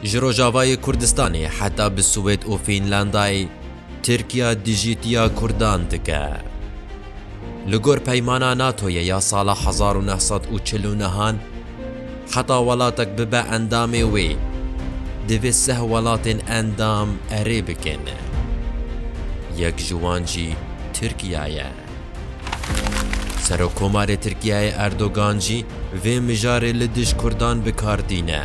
Ji Rojavayê Kurdistanê heta bi Swêd û Fînlandayê Tirkiya dijîtiya Kurdan dike. Li gor peymana NATOyê ya sala hezar û neh sed û çil û nehan heta welatek bibe endamê wê divê seh welatên endam erê bikin. Yek ji wan jî Tirkiya ye. Serokkomarê Tirkiyeyê Erdogan jî vê mijarê li dij Kurdan bi kar tîne.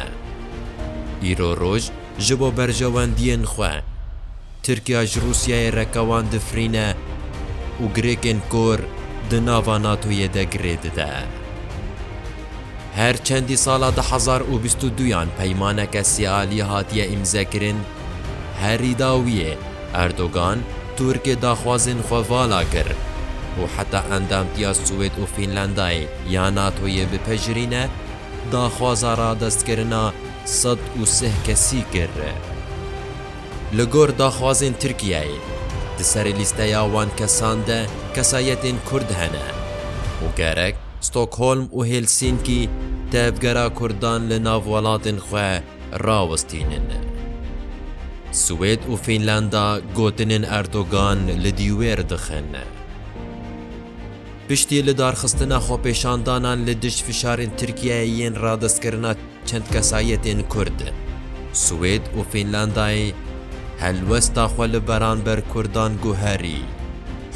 Îro roj ji bo berjewendiyên xwe, Tirkiya ji Rûsyayê re kewan difirîne û girêkên kor di nava NATO'yê de girê dide. Her çendî sala du hezar û bîst û duyan peymaneke sêaliyê hatiye îmzekirin, Herî dawiyê Erdogan Tirkê daxwazên xwe vala kir û heta endamtiya Swêd û Fînlandayê ya NATOyê bipejirîne, daxwaza radestkirina sed û sih kesî kir. Li gor daxwazên Tirkiyeyê, di serê lîsteya wan kesan de kesayetên Kurd hene û gerek Stockholm û Helsînkî tevgera Kurdan li nav welatên xwe rawestînin. Swêd û Fînlanda gotinên Erdogan li dîwêr dixin. Piştî lidarxistina xwepêşandanan li dij fişarên Tirkiyeyê yên radestkirina çend kesayetên Kurd, Swêd û Fînlandayê helwesta xwe li beranber Kurdan guherî.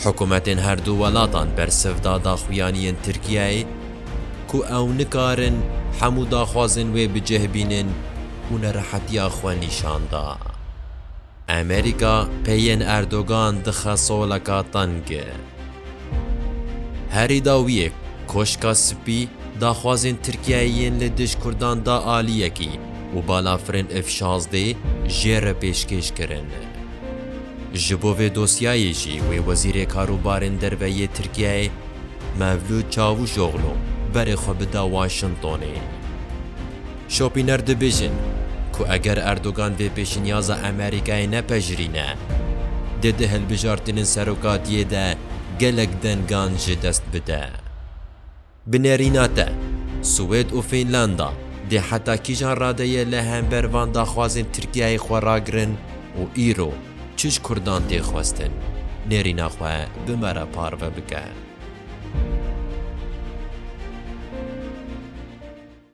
Hikûmetên herdu welatan bersiv da daxuyaniyên Tirkiyeyê ku ew nikarin hemû daxwazên wê bi cih bînin û nerehetiya xwe nîşan da. Amerîka peyên Erdogan dixe soleka teng. Herî dawiyê Koşka Spî daxwazên Tirkiyeyê yên li dij Kurdan da aliyekî û balafirên F-şazdeh jê re pêşkêş kirin. Ji bo vê dosyayê jî wê Wezîrê Karûbarên Derve yê Tirkiyeyê Mevlût Çavûşoglu berê xwe bida Washingtonê. Şopîner dibêjin ku eger Erdogan vê pêşinyaza Amerîkayê nepejirîne, dê di hilbijartinên serokatiyê de gelek dengan ji dest bide. Bi nerîna te, Swêd û Fînlanda dê heta kîjan radeyê li hember van daxwazên Tirkiyeyê xwe ragirin û îro çi ji Kurdan tê xwestin, nerîna xwe bi me re parve bike.